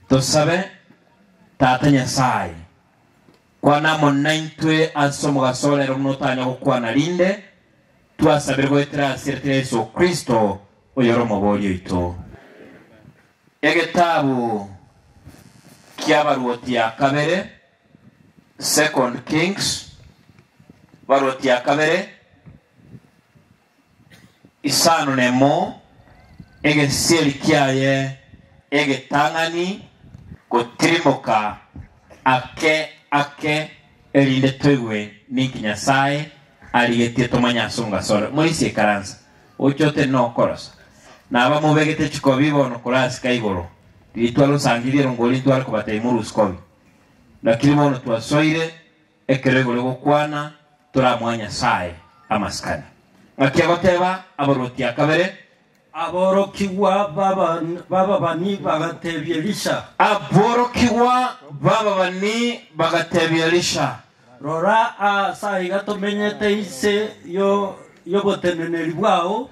Tosabe. Tata Nyasae, kwana amo naintwe ase omogaso one ere buna otanya gokwana rinde twasabire goetera ase erieta ria Yeso Kristo, oyore Omobori oito. Egetabu ki'Abaruoti ya Kabere, Second Kings, Baruoti ya Kabere, Isano nemo, egesiseri kiaye egetang'ani gotirimoka ake ake, erinde toigwe ninki Nyasae arigetie tomanye ase omogasore. Moise ikaransa, oche ote nokorosa, naba mobegete chikobi bono korasika igoro, riria twarosangire erongori ntware kobata imuru sikobi, lakiri bono twasoire Ekero igoro egokwana toramoe Nyasae amasikani, ng'aki agoteba abarwoti a kabere? Aborokigwa b'ababani bagatebia Elisha. Aborokigwa b'ababani bagatebia Elisha. Rora, aase aiga tomenyete inse y'oboteneneri bwao,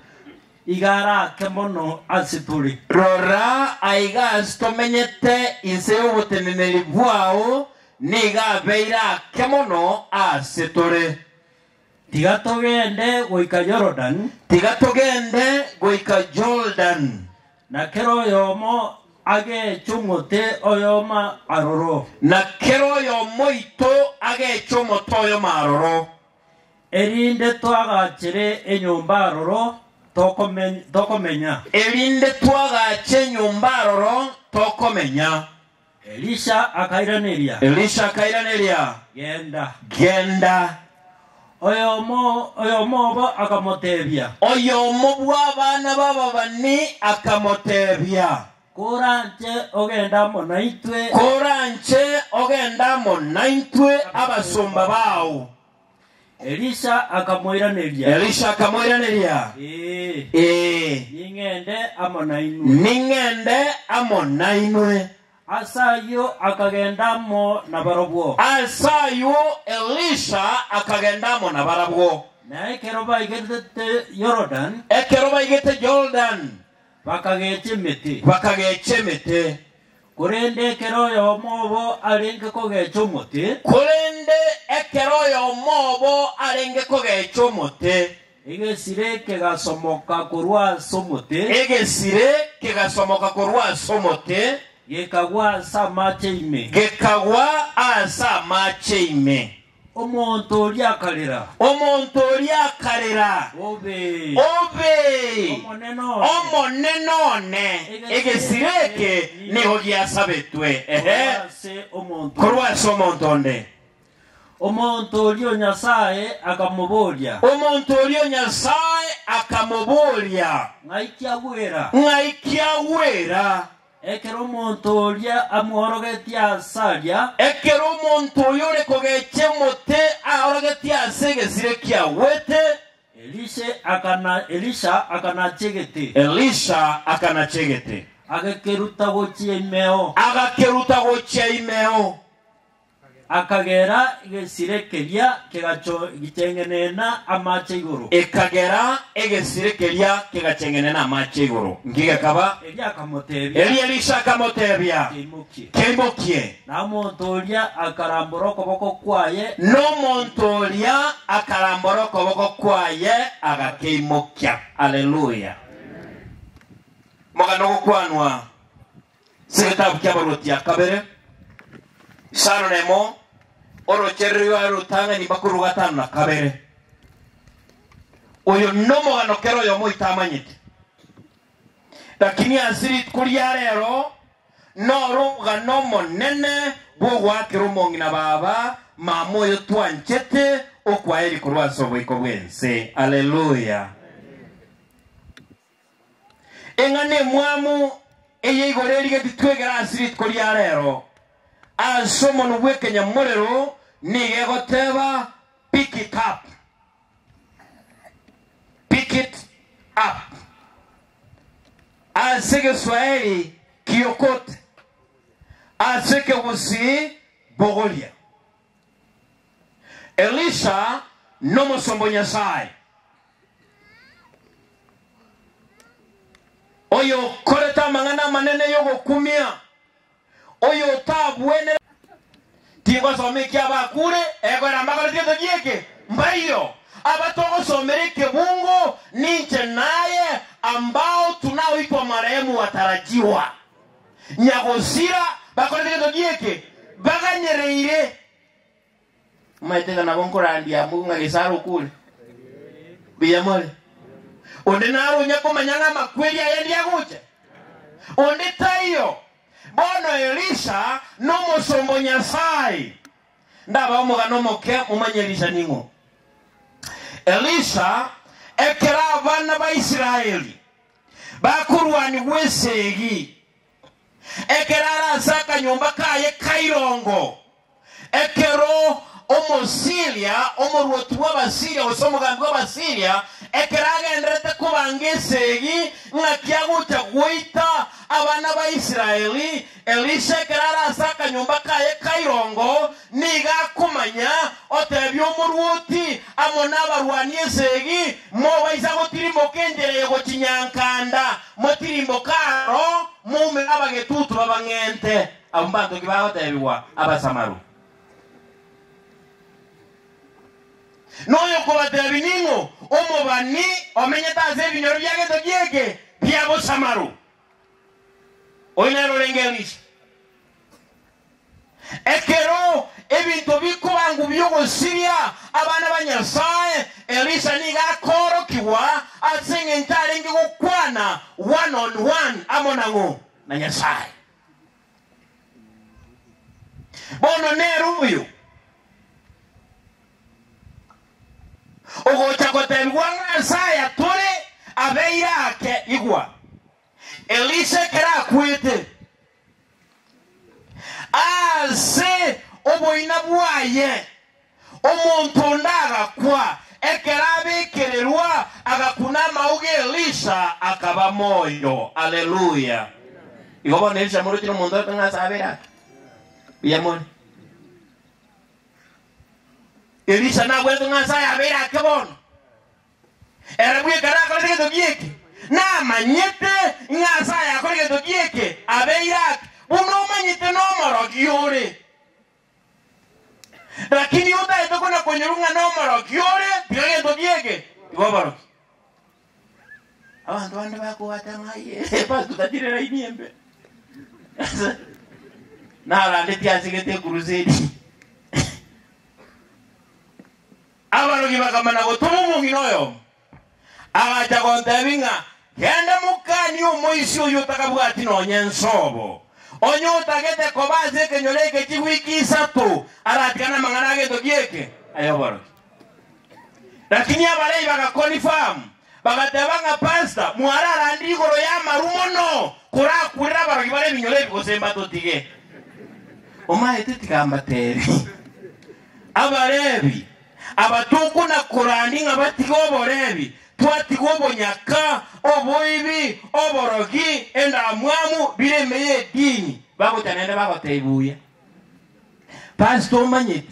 iga ara ake mono ase tore. Rora, aiga aase tomenyete inse y'oboteneneri bwao. Nigo abeire ake mono ase tore. Tiga togende goika Yorodan. Tiga togende goika Yorodan. Na kera oyomo ageche omote oyomo aroro. Na kera oyomo oito ageche omote oyomo aroro. Erinde twagachere enyomba aroro tokomenya. Erinde twagache enyomba aroro tokomenya. Elisha akairaneria. Elisha akairaneria, Genda. Genda. Oyomo oyomo obo akamoteebia. Oyomo bw'abana b'ababani akamoteebia. Koranche ogende amo naintwe. Koranche ogende amo naintwe abasomba bao Elisha akamoiraneria, Elisha akamoiraneria, Ee, Ee, ning'ende amo nainwe. ning'ende amo nainwe. Ase ayio akagenda amo nabarabwo. Ase ayio Elisha akagenda amo nabarabwo. Na ekero baigeretete Yorodani, Ekero baigete Yorodani, Bakagecha emete. Bakagecha emete. Korende ekero oyomo obo arenge kogecha omote. Korende ekero oyomo obo arenge kogecha omote. Egesire kegasomoka korwa ase omote. Egesire kegasomoka korwa ase omote. Gekagwa ase amache ime. Gekagwa ase amache ime. Omonto oria akarera. Omonto oria akarera, Obe. Obe. Omonene one. Omonene one, egesira eke nigo giasabetwe, ehe, Korwa ase omonto. korwa ase omonto onde. Omonto oria Nyasae akamoboria, Omonto oria Nyasae akamoboria, Ng'ai kiagwera? Ng'ai kiagwera? Ekero omonto oria amworogetie aase aria. Ekero omonto oyo ore kogechia omote aorogetie aase egesire kiagwete. Elisha Elisha akanachia egete. Elisha akanachia egete. Agekeruta gochia imeo. Agakeruta gochia imeo. Akagera egesire keria kegacheng'enena amache igoro. Ekagera egesire keria kegacheng'enena amache igoro, inki gekaba? Eria akamotebia. Erio Elisha akamotebia, Keimokie. Keimokie. Na omonto oria akarambora okoboko kwaye. Na omonto oria akarambora okoboko kwaye, agakeimokia. Alleluia! Mogano gokwanwa. Segetabu ki'Abaruoti ya Kabere, isano nemo, orochererio are rotang'ani makorwa gatano na kabere. Oyo nomogano kera oyomo oitamanyete, lakini ase rituko ria rero noromogano omonene bw'ogoakera omong'ina baba mama oyo twanchete okwaeri korwa ase oboiko bw'ense. Alleluia. Eng'ana emwamu eye igoro erigetie twegere ase rituko ria reero, ase omonwa bw'ekenyamorero nigo egoteeba, Pick it up. Pick it up. Ase egeswahili, kiokote. Ase ekegusii, bogoria. Elisha nomosomba o Nyasae, oyokorete amang'ana amanene y'ogokumia, oyotabwenereti. Tingosoma eki'abakure, egoera mbakoreti etogia eke, mbaio. Aba togosomera ekebungo ninche naye, ambao tunaoitwa marehemu watarajiwa. nyagosira bakorete egento gi'eke, baganyereire. Momaete ng'a nabo nkorandia abwo ng'a Gesaro okure? Mbuya more. Onde naro onya komanya ng'a amakweri aya endi agocha? Onde taiyo. Bono Elisha nomosomba o Nyasae. Ndabae omogano omoke, momanye Elisha ning'o. Elisha ekero abana ba Israeli bakorwanigwa esegi. Ekero are ase akanyomba kaye ka irongo, ekero Omosiiria, omorwoti bw'Abasiiria, gose omogambi bw'Abasiiria, ekero agenderete kobanga esegi ng'aki agocha goita abana ba Israeli, Elisha ekero are ase akanyomba kaye ka irongo, nigo akomanya, otebia omorwoti amo nabarwani esegi, Mobaisa gotirimoka enchera eye gochia Nyankanda, motirimboke aro, moumere abagetutu babang'ente. Abwo mbanto ki bagotebigwa Abasamaru? Noyokobatebia ning'o, omobani omenyete ase ebinyoro bi'egento gi'eke bia Bosamaru? Oyo nere orenge Elisha. Ekero ebinto bikoba ng'u bi'ogosiria abana ba Nyasae, Elisha nigo akoorokigwa ase engencho arenge gokwana one on one amo nang'o? Na Nyasae. Bono nere oyo. Ogocha gotebigwa ng'a Isaya tore abeire ake, igwa, Elisha ekero akwete, ase oboina bwaye omonto onde agakwa, ekero abekererwa agakwa namauga Elisha akaba moyo. Alleluia! Igo bono Elisha moroche nomonto oyoka ng'a ase abeire ake. Mbuya more. Elisha nagwenerete ng'a Nyasae abeire ake bono, ere bweka ere akorete egento gi'eke. Namanyete ng'a Nyasae akore egento gi'eke abeire ake, buna omanyete nomorogi ore. Lakini oyo otagete kona-konyorwa ng'a nomorogi ore, tiga egento gi'eke, tiga oborogi. Abanto bande bakobwata ng'a aye epato tatire raini embe. Narandetie asegete ekurusedi. Abarogi bakamana gotoma omong'ina oyomo, agacha gontebia ng'a, Genda mokanie omoisia oyio otakabwati nonya ensobo, onye otagete koba ase ekenyoro eke chigwiki isato aratigane amang'ana agento gieke ay'oborogi. Lakini abarai bagaconfirm, bagateba ng'a, Pastor, mwararandire igoro y'amaru mono korakurere abarogi bare ebinyoro ebi gose mbatotige. Omaete tiga ambatebi. Abarebi, Aba tokona korandi ng'a batige oborebi, twatiga obonyaka, oboibi, oborogi, endamwamu, bire emeye y'edini. Bagocha naende bagotebi buya. Pastor, omanyeti,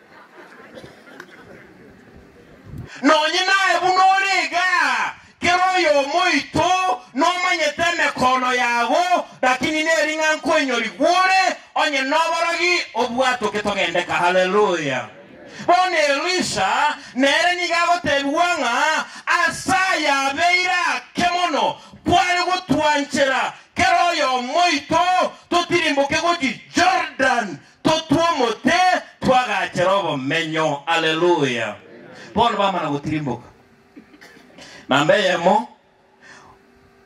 Nonye naye buna ore iga, kera oyomo oito nomanyete emekono yago, lakini neri ng'a nkoinyori gwore onye noborogi obwatoke togendeka. Haleluya! Bono Elisha nere nigo agotebigwa ng'a ase ayabeire ake mono kware gotwanchera kera oyomo oito totirimboke gochia Jordan Totwa omote, twagachera obomenyo. Aleluya! Bono bamana gotirimboka. Namba eyemo,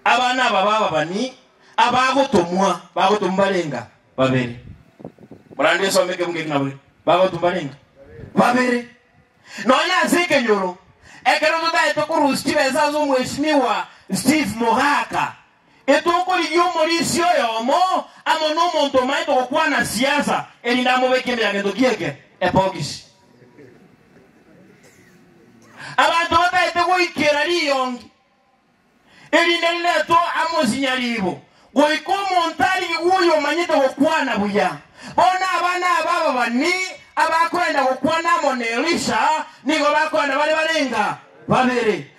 abana aba b'ababani abagotomwa, bagotomwa barenga babere. Morande osome ekebugu eke ng'a bore, bagotomwa barenga babere. Nonya ase ekenyoro, ekero totaete korusia chibesa ase Omweshimiwa Steve Mogaka, Rituko riria omorisia oyomo amo nomonto omaete gokwana siasa erinde amobeke emeragento gi'eke ebogisi. Abanto bataete goikera riyongi erinde riretwe amosinya riibo goika omonto arigwe oyomanyete gokwana buya. Bono abana aba ababani abakoenda gokwana amo n'Elisha nigo bakoenda bare barenga babere.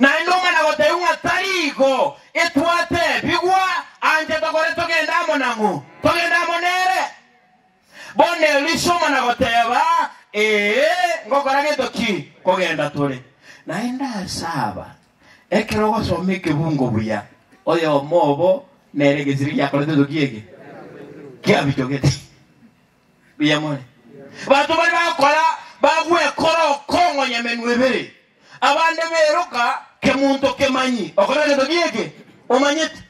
Naende omwana gotebiwa ng'a tari igo, Etwate, bigwa anche tokore togende amo nang'o? Togende amo nere? Bono Elisha omwana goteba, Ee, ngokora gento ki? Kogenda tore. Naende ase aba, ekero ogosoma ekebungo buya, oyomo obo nere egesire giakoretwe toki eke? Kiabichogete. Mbuya more. Bato baria bagokora bagwekora okong'onya emenwa ebere, abande bairoka kemonto kemanyi okora egento gi'eke omanyete.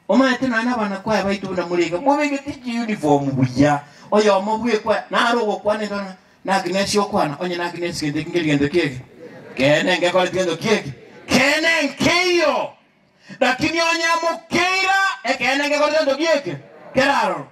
Omanyete naende abanakwaya baito buna morenge mobegeti chiunifomu buya, oyomo bw'ekwaya nare ogokwana ento na naki nesi okwana, onye naki nesi gento eki ngeri gento ki'eke keene ngekoreti gento ki'eke keene nkeiyo, lakini onye amokeira ekeene ngekoreti gento gi'eke keraroro.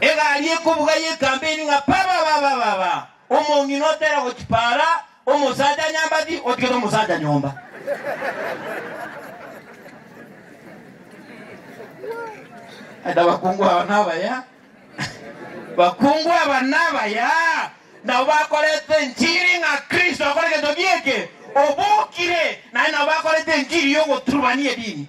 Egari ekobuga y'ekampeni ng'a pa-pa-pa-pa-pa-pa! Omong'ina otera gochipara omosacha nyambati otigete omosacha nyomba. Ande abakungu aba nabaya, bakungu aba nabaya, nabo bakorete enchiri ng'a Kristo akore egento gieke, obokire, naende nabo bakorete enchiri y'ogoturubania edini.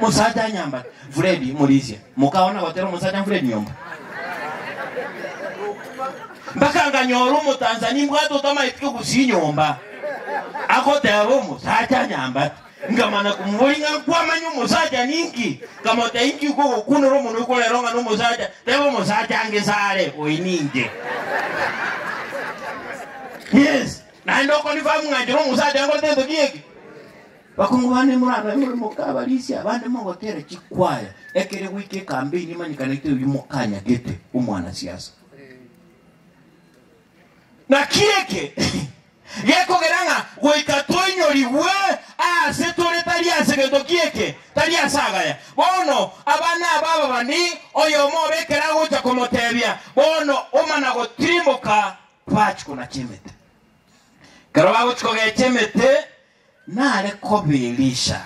Mosacha nyamba Fredi Murisia moka ona gotera omosacha Fredi nyomba mpaka nganyora omotanzania mbwate otamaetike ogusia nyomba agoteba omosacha nyamba ngamana kumubori ng'a nkwamanya omosacha ninki nkamoteba inki ukogokunora omonwe korero ng'a nomosacha teba omosacha ange sare oyi ninge yes naende okonifamu ng'a nchera omosacha ngoteba etoki eke Bakungu bane, morabe more mokabarisia abande mogoteera chikwaya, ekere goika ekambeini emanyekanete oyio mokanyagete omwanasiasa. Naki eke gekogera ng'a goika toinyorigwe aase tore tari ase gento ki'eke, tari ase agaya. Bono abana aba ababani, oyomo obo ekero agocha komoteebia, bono omana gotimoka, twachie konacha emete. Ekero bagochia kogecha emete, Nare kobirisha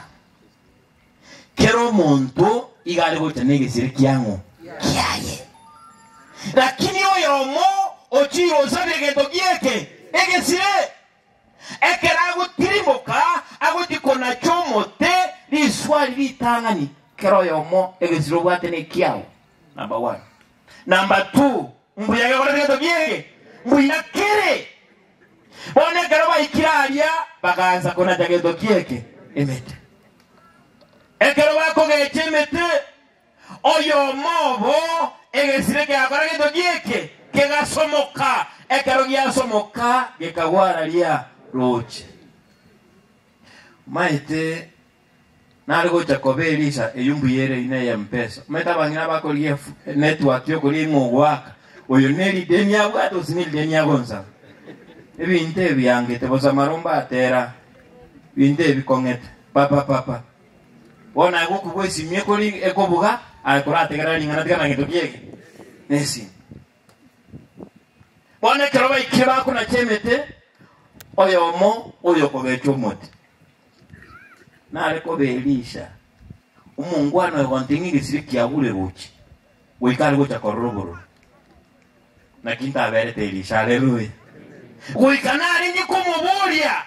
kera omonto iga are gocha negesire kiang'u kiaye. Lakini oyomo ochire osabire egento gi'eke egesire, ekero agotirimoka agochia konacha omote riswari ritang'ani, kera oyomo egesire obwate nekiao, number one. Number two, Mbuya gekore gento gi'ege, mbuya kere. Bono ekero baikire aria bagaancha konacha gento gi'ege, emete. Ekero bakogecha emete, oyomo obo egesire kiakora gento gi'ege, kegasomoka, ekero giasomoka gekagwa ara ria rooche. Omaete? Nare gocha koba Elisha eyio mbuya ere ina eye empeso. Omanyete abang'ina bakorigia efu, network yokoria ing'o ogoaka, oyo neri deni abwate gose neri deni agonsaba. Ebinto ebi biangete bosa amaromba atera binto ebi kong'ete papa papa. Bono aye gokubua esimu ekori ekobuga aye korategerera ring'ana tiga nagento kiege nesimu. Bono ekero baikire bakonacha emete oyomo oyokogechwa omote. Nare kobe Elisha, omongwana oyo gontee ng'a egesire kiabure gochia, goika are gocha korora oborori. Naki ntaberete Elisha. Aleluya. Goika narenge komoboria,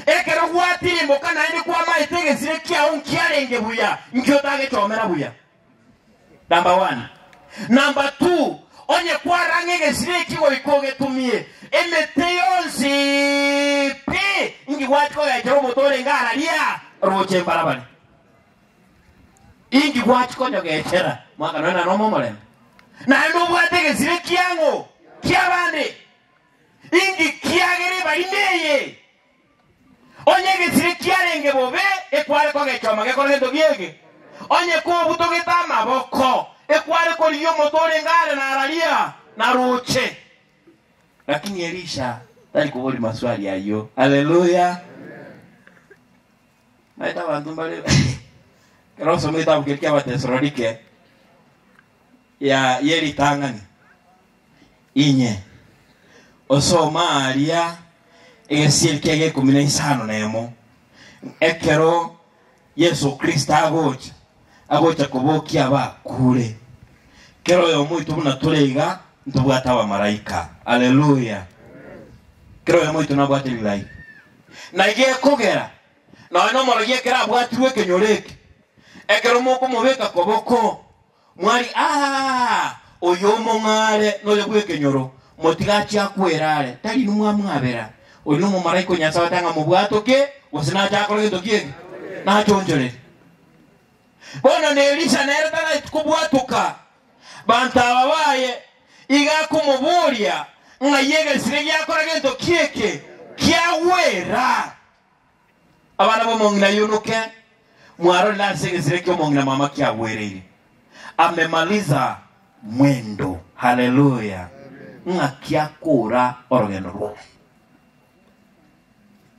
Ekero gwatirimboka naende kwamaete egesire kiao nkiarenge buya, nki otagechomera buya? Number one. Number two, onye kwarang'a egesira eki goika ogetumie, emete yonsi pi inki gwati kogechera omote orenge ara ria roche mbarabari? Inki gwati konyogechera? Mwaka nonya nomo omorembe. Naende obwate egesira kiang'o kiabande? Inki kiagere ebarima eye Onye egesire kiarenge bobe, ekware kogechwa amageko nento giege? Onye kobutogete amaboko, ekware korigia omotwe orenge are na araria? Naroche. Lakini Elisha tari koboria maswali ayio. Haleluya! Naete abanto mbare ekero osoma egetabu keria ki'Abatesalonike, ya ye ritang'ani. Inye, osoma aaria egesieri kia gekomi na isano nemo, ekero Yeso Kristo agocha, agocha kobokia abakuure. Kera oyomo oito buna tore iga ntobwate abamaraika. Aleluya! Kera oyomo oito nabwate rilaika. Na iga ekogera, nonya nomorogi ekero abwatirwe ekenyoro eke, ekero mokomobeka koboko, Mwari, Aa! Oyomong'aare noyo bw'ekenyoro, motiga achie akwera are, tari inwe mwamwabera? Oria omomalaika o Nyasae otang'a mobwato ki, gose nache akore gento ki'eki? Nachonchorerie. Bono na Elisa nere taraeti kobwatoka banto aba baye, iga akomoboria, Ng'ai egesire giakora gento ki'eke, kiagwera? Abana b'omong'ina ayonoke, mwarorire ase egesira eki'omong'ina mama kiagwereire? Amemaliza mwendo. Haleluya! Ng'aki akoora orogendo rwaye.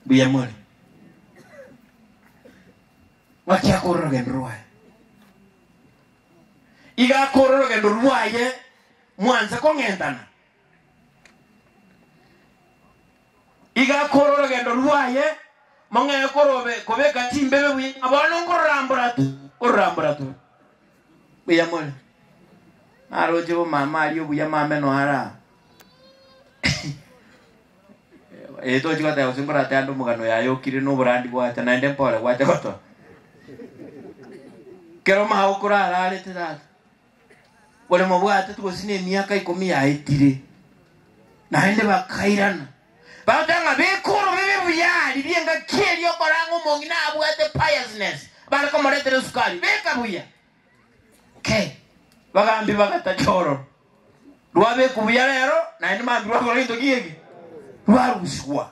Mbuya more. Ng'aki akoora orogendo rwaye. Iga akoora orogendo rwaye mwanse kong'entana. Igakora orogendo rwaye, mong'ee korobe kobeka chimbebe buya, ng'a bono nkororambora tu, nkororambora tu. Mbuya more. Naroche bo mama aria obuya mameno ara. Eh, tochi goteba gose nkorate ande omogano yaye okire na oborandi gwacha, naende mpore gwacha gotoa. Kero mao korararete tata. Bore mobwate gose nemiaka ikomi yaetire. Naende bakairana, bagoteba ng'a bikoro bibe buya aria bi'engaki eria okore ang'e omong'ina abwate piousness bare komoretera esukari, beka buya. Ke, bagaambia bagatacha ororo. Rwabekwa buya rero, naende mambia rwakora gento ki eke? Rwarusigwa.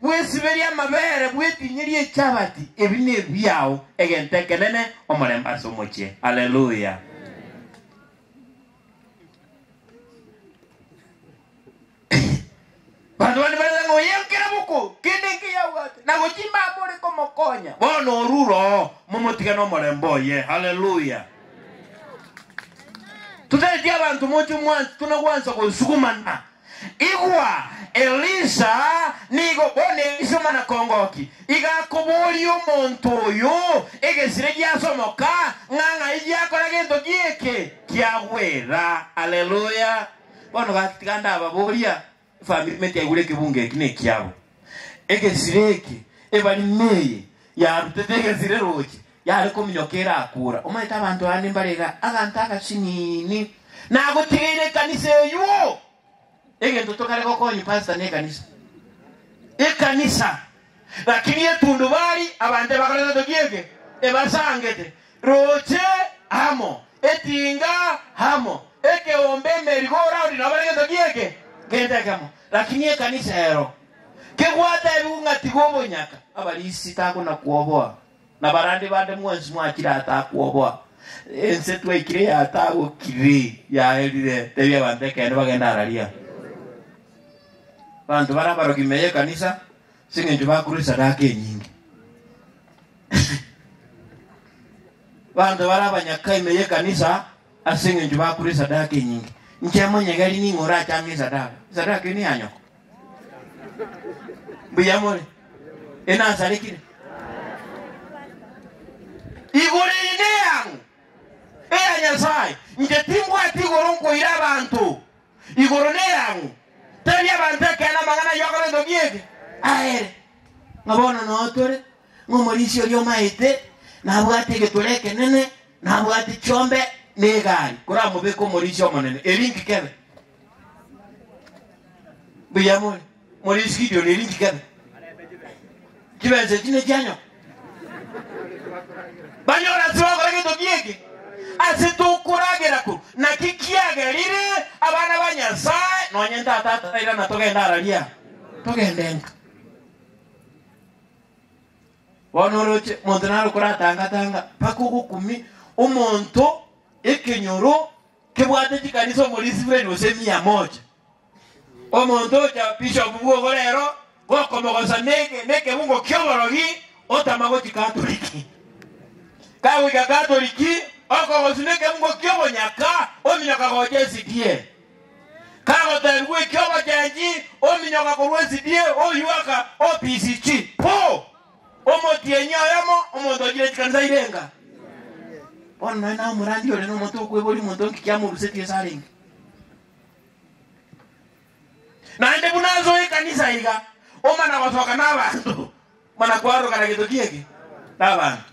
Bwesiberie amabere, bwetinyerie echabati, ebi nebiao, egento ekenene, omorembe ase omochie. Alleluia. Banto bande bareta ng'a oye nkera boko kende nkeya abwate, na gochia mama ore komokonya, bono orure oo, momotige nomorembe oye. Alleluia. Totaeti abanto moche mwansi, tuna gwansa gosugumana Igwa, Elisa nigo bono eise omwana-kongoki, igakoboria omonto oyo egesire giasomoka, ng'a ng'ai giakora gento gieke, kiagwera. Aleluya! Bono gaki tiga ndababoria, efamiri ime tiaigure ekebungo eki nekiabo. Egesire eke, ebarima eye yarutete egesire roche, yare kominyoka erakuura. Omanyete abanto aya nimbare iga agante agasiniini nagotigeire ekanisa eywo. Egento tokare gokonywa pastor ne ekanisa. Ekanisa. Lakini etundubari abanto ebakorete toki eke ebasangete. Roche amo, etinga amo, ekeombe, emerigoraundi nabo bare gento ki eke, gento ekemo. Lakini ekanisa ero kebwate aye bigung'atigwe obonyaka, abarisi takonakuoboa, na barande bande mwensi mwachire atakuoboa. Ense twaikire yatagokiri, yaerire, tebia abanto ekeene bagende araria. Abanto bare abaroki ime y'ekanisa, ase engencho bakorwa esadaka enyinge. Abanto bare abanyaka ime y'ekanisa Ase engencho bakure esadaka enyinge, inche amonye gari ning'o orachange esadaka? Esadaka eye neya nyoko. Mbuya more? Enasarekire? Igoro eye neyang'o? Eya Nyasae. Inche timbwati igoro nkoira abanto. Igoro neyang'o? Tari abanto ekeene amang'ana ayio akorentwe ki eke? Aere. Ng'a bono noo tore. Ng'omorisia oria omaete nabwate egetoro ekenene, nabwate chiombe na egari, koramobeke omorisia omonene, eri inki kebe? Mbuya more, Morisia Gideoni, eri inki kebe? Chibensa echi nechianyoka? Banyora ase bagokora gento gi'eke, ase tokoragera korwa naki kiagerire abana ba Nyasae, nonye ntatato, irana togende ara riao, togende enka. Bono oroche monto naro koratanga-tanga mpaka ogokumia omonto ekenyoro kebwate chikanisa omori isibireni gose emia moja. Omonto ocha bishopu bwogo rero gokomogosa neke nekebungo ki'oborogi otama gochia Katoliki. Kagoika Katoliki okogoswa nekebungo ki'obonyaka ominyoka gocha SDA. Kagoteebigwa ekia obochengi, ominyoka korwa esidie, oyuaka, opisi chi. Po! Omotienyi oyomo, omonto ochire chikanisa ire enga. Bono nonye naye omorandia oria nomonto okweboria omonto onki ki amorusetie ase arenge. Naende buna ase o ekanisa iga, omana gosoka nabanto, mana kwarorokana gento ki eke nabanto.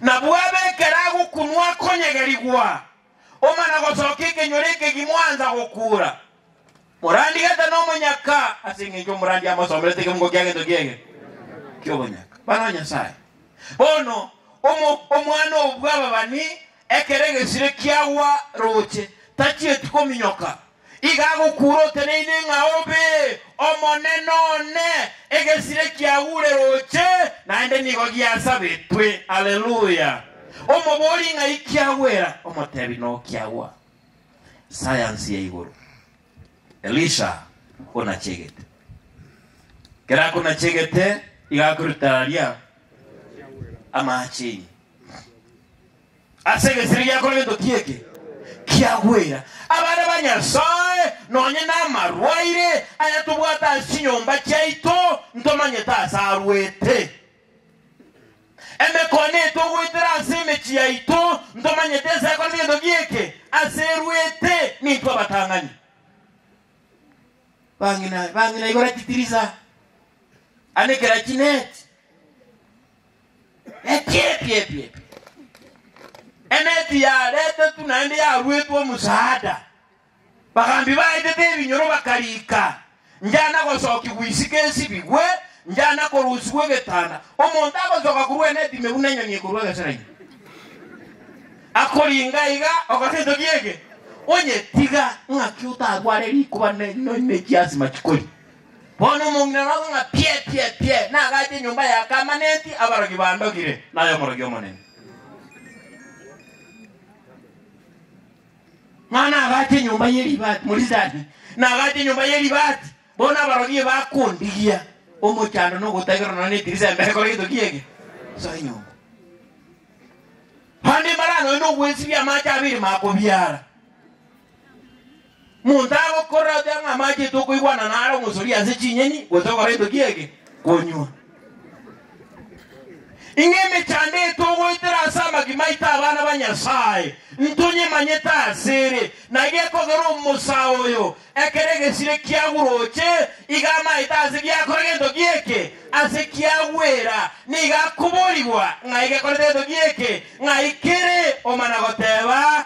Nabwo abe ekero agokunwa akonyegerigwa. Omana gosoka ekenyoro ekegima oansa gokuura. Morandi gete nomonyaka, ase engencho omorandi amosomerete ekemungo kia gento ki'egere ki'obonyaka. Bana ba Nyasae, bono omo omwana oo bw'ababani ekero egesire kiagwa rooche, tachieti kominyoka, Iga agokuure oteneine ng'a obe omonene one, egesire kiagure roche, naende nigo giasabetwe. Haleluya! Omobori ng'ai kiagwera? Omotebi nokiagwa. Sayansi ya igoro. Elisha onachegete. Ekero akonachegete, iga akorutararia amaache ime. Ase egesire giakora egetotia eke kiagwera abana ba Nyasae, nonye namarwaire aya tobwate ase chinyomba chiaito, ntomanyete ase arwete. Emekone eye togoetera ase emechie yaito, ntomanyete ense ekorete egetotia eke ase erwete nintwe abatang'ani. Bang'ina bang'ina igora chitiriza, anekera chineti. Ekiepiepiepie. Eneti yaretetwe naende yaruetwe omosaada. Bagaambi baetete ebinyoro bakariika, njana gosookigwa isiko esibigwe, njana korusigwa egetanda. Omonto agosoka korwa eneti ime buna enyoni ekorwa egesera ime. Akoringa iga okore entoki eke, onyetiga ng'aki otarware rikuba ne- ne- nechiasima chikori. Bono omong'ina orabue ng'a pie, pie, pie, nagache enyomba ya Kamanenti, abarogi bandogire, naye omorogi omonene. Ng'a nagache enyomba ye ribati, morizani, nagache enyomba ye ribati, bono abarogi eye bakondigia omochando na ogotaigerwa nonya nedirisa embere ekore egetoki ege, soa enyomba. Naende mbare aa nonya nogwesibia amache abere makobiara. Monto agokorera oteba ng'a amachete okoigwana nare omosoria ase chinyeni gose ogora gento ki ege konywa. Inga emechando eye togoetera ase amagima aito abana ba Nyasae, ntonyemanyete asere, na gekogera omosa oyo ekero egesire kiaguroche, iga amaete ase giakora gento ki eke, ase kiagwera, nigo akoborigwa ng'ai gekorete gento ki eke, ng'ai kere omana goteba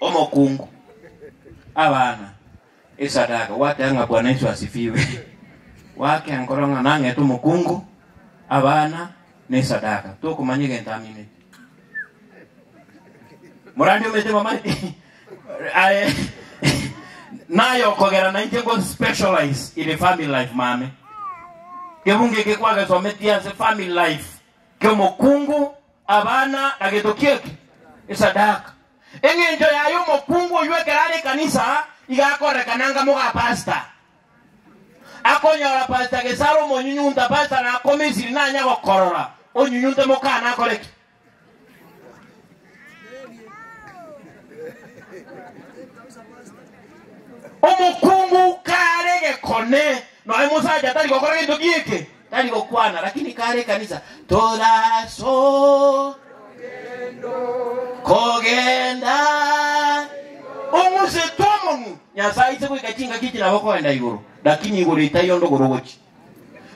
Omokungu, Abana, esadaka. Gwakea ng'a Bwana Yesu asifiwe. Gwakea nkoro ng'a nang'ete omokungu, abana, na esadaka. Tokomanya egento aminete. Morandi omete mama aye naye okogera na inche ngo specialize in the family life mame. Kebunge eke kwagesometie ase family life kiomokungu Abana na getoki eke esadaka. Engencho yaye omokungu oyio ekero are ekanisa iga akorekana nga moga pasta. Akonyora pasta gesare omonyunyunta pasta nakome esiri nanya gokorora onyunyunte mokana akore ki? Omokungu kare gekone noe mosacha tari gokora gento gieke. Tari gokwana, lakini kare ekanisa. Toraso kogenda omoseto omong'u. Nyasae aise goika chingaki echi nabo koenda igoro, lakini igoro etari onde ogoro ogochi.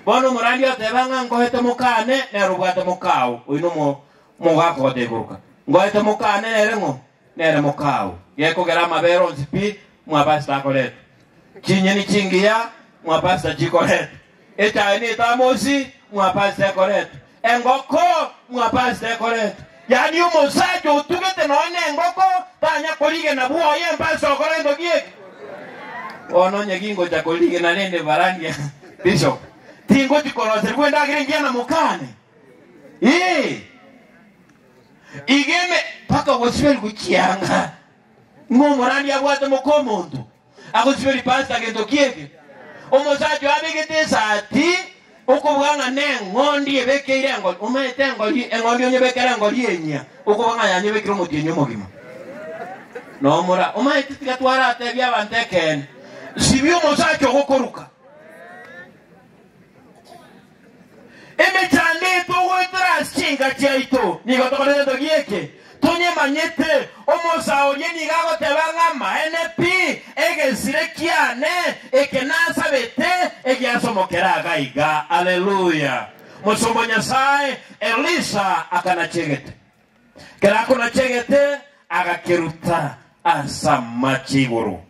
Bono omorandia oteba ng'a ngoete mokane nere obwate mokao, oino mo- mogakogote goruka. Ngoete mokane nere ng'o? nere mokao, gekogera amabere onsi pi, mwabasita akoretwe, chinyeni chingiya, mwabasita chikoretwe, echaye ne etamosi, mwabasita ekoretwe, engoko, mwabasita ekoretwe. Yaani omosacha otugete nonya ne engoko tanya korigena bwoye mbasita gokora gento gi'eki. Bono onye gingocha korigena rende barandia bishop, tingochi koroserigwa endagera engiya na mokane? Ee. Igeme mpaka ogosiberigwe chianga, ng'a omorani abwate moka omonto agosiberie pasi agento ki'eke. Omosacha oyo abegete esaati okoboga ng'a neng'ondi ebekeire engori, omaete engori eng'ondi onyebekere engori enyia okoboga ng'a yanyebekire omotienyi omogima. Nomura omaete tiga twaratebie abanto ekeene, sibia omosacha ogokoruka. Emechando etwo goetera ase chinka chiaito nigo tokore egento gi'eke, tonyemanyete, omosa oria nigo agoteba ng'a amaene pi, egesire kiane eke nasabete egiasomokera iga iga. Aleluya! Mosomba o Nyasae Elisha akanachegete. Ekero akonachegete, agakeruta ase amache igoro.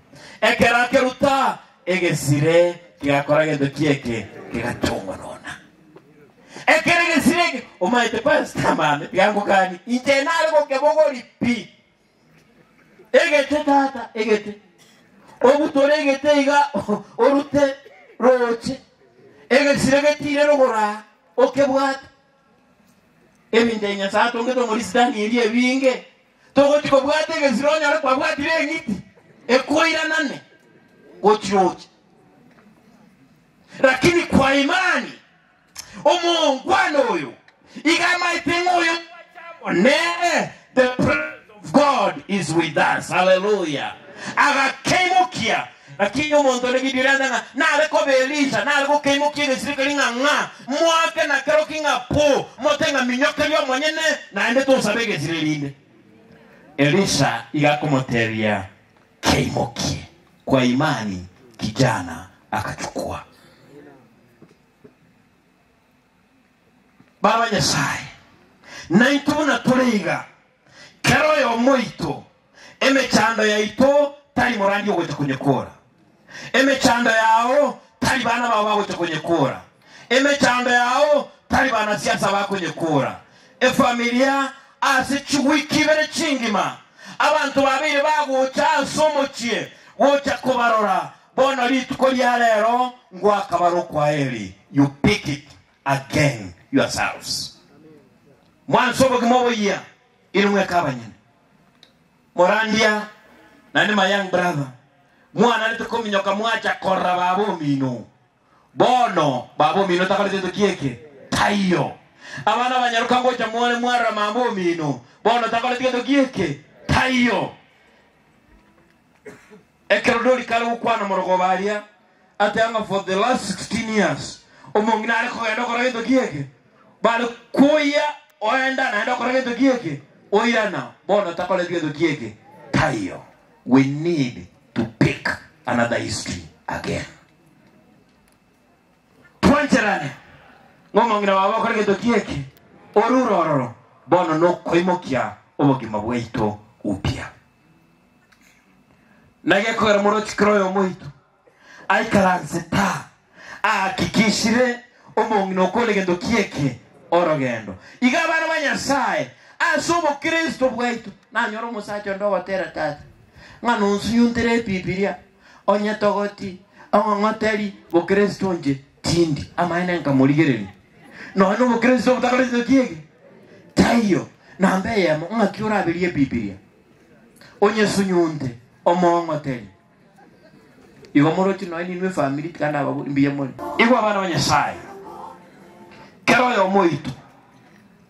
Ekero akeruta, egesire kegakora gento ki eke, kegachongwa nonya. Ekero egesire eke omaete pastor mame, tiga ngokani, inche nare gokebogori pi. Egete tata, egete. Obutore egete iga orute roche. Egesire getiire rogoro aa, okebwate. Eminto ya Nyasae atongete omori Sitani eria ebinge, togochi kobwata egesiro onyore kwabwatire eng'iti ekoiranane gochia oche. Lakini kwa imani omongwana oyo iga amaete ng'a oyo ngwache amo nere, the presence of God is with us. Hallelujah. Agakeimokia Naki inwe montore gidirenta ng'a nare koba Elisha, nare gokeimokia egesirikari ng'a ng'a, moake na kero ki ng'a pu, mote ng'a minyokeria omonyene, naende tosabe egesire rinde. Elisha iga akomoteebia, Keimokie, kwa imani, kijana agachukwa. Baba Nyasae, naintwe buna tore iga, kera oyomo oito, Emechando yaito tari morandi ogocha konyekora, emechando yao tari bana bao bagocha konyekora, emechando yao tari banasiasa bakonyekora. Efamilia ase chiwiki ibere chingima abanto babeire bagocha ase omochie gocha kobarora, bono rituko ria rero ngwakabare okwaheri you pick it again yourselves. Mwanse obogima oboyia inwe eka abanyene. Morandia naende my young brother, mwanarete kominyoka mwacha korora baba omino. Bono baba omino takorete gento ki'eke? Taiyo. Abana abanyaroka ngocha more mwarora mama omino, bono takorete gento ki'eke? Taiyo. Ekero Dori kare gokwana amorogoba aria, ateba ng'a for the last sixteen years omong'ina are kogenda okora gento ki eke, bare koyia oenda naende okora gento ki eke, oirana bono takoreti gento ki eke, taiyo. We need to pick another history again. Twancherane ng'a omong'ina babo akore gento ki eke, orure ororo bono nokoimokia obogima bwaito upya. Na gekogera omorochi kera oyomoito aikaranse ta aakikishire omong'ina okore gento ki'eke orogendo. Iga abana ba Nyasaye, ase obokristo bwaito, nanyore omosacha onde ogotera tata ng'a nonsunyuntere Ebibilia, onyetogoti, ong'ong'oteri bokristo inche tindi amaene nkamorigereria. Nonya obokristo botakore gento ki'eke taiyo namba eyemo ng'aki oraberie Ebibilia. onyesunyunte, omoong'otere. Igo moroche nonya ninwe efamiri tiga nababori mbuya more. Igwa abana ba Nyasaye, kera oyomo oito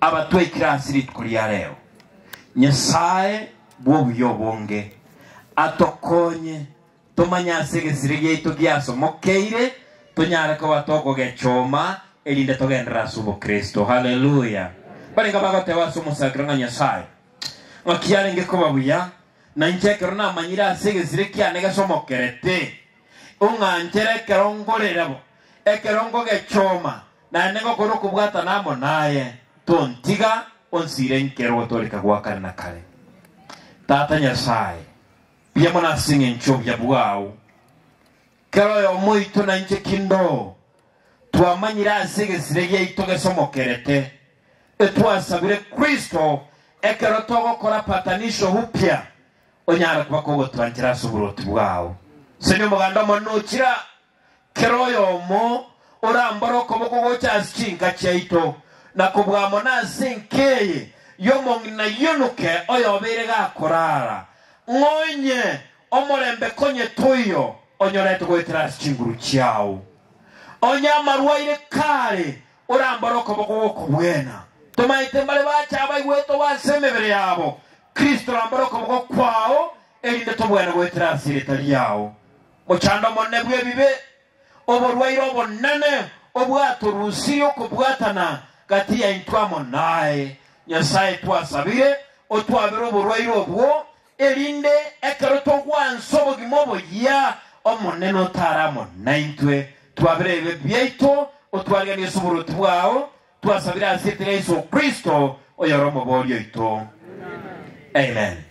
abatwekire ase rituko ria reo, Nyasaye bw'obuya obonge atokonye Tomanye ase egesire giaito giasomokeire tonyare koba tokogechoma erinde togenderere ase obokristo. Haleluya! Barenge abagoteba ase omosakera ng'a Nyasae ng'aki arenge koba buya, na inche ekero namanyire ase egesire kiane gesomokerete, ong'anchere ekero ngorire bo, ekero nkogechoma, naende ngokora okobwatana amo naye, tontiga, onsiire nkere ogotooreka gwa kare na kare. Tata Nyasae, Mbuya mono ase engencho y'obuya bwao. Kera oyomo oito na inche kindoo twamanyire ase egesire giaito gesomokerete, etwasabire Kristo, ekero togokora patanisho upya, onyare koba kogotwanchera ase oboruoti bwao. Senya omoganda omonene ochira. Kera oyomo orambare okoboko gocha ase chinka chiaito, na kobua amo nase enka eye y'omong'ina aionoke oyobeire gakoraara, ng'a onye omorembe konye toiyo onyorete goetera ase chinguru chiao. Onye amaru aire kaare orambare okoboko gw'okobwena. Tomaete mbare bache abaigwete obo ase emebere yabo, Kristo orambare okoboko kwao, erinde tobwane goetera ase erieta riao. Mochando omonene bw'ebibe, oborwaire obonene obwatorusirie okobwatana gati yaintwe amo naye. Nyasae, twasabire otwabere oborwaire obwo, erinde ekero togwansa obogima oboyia, Omonene otare amo naintwe, twabere ebibe biaito, otwariganie ase oboruoti bwao, twasabire ase erieta ria Yeso Kristo, oyore Omobori oito. Amen.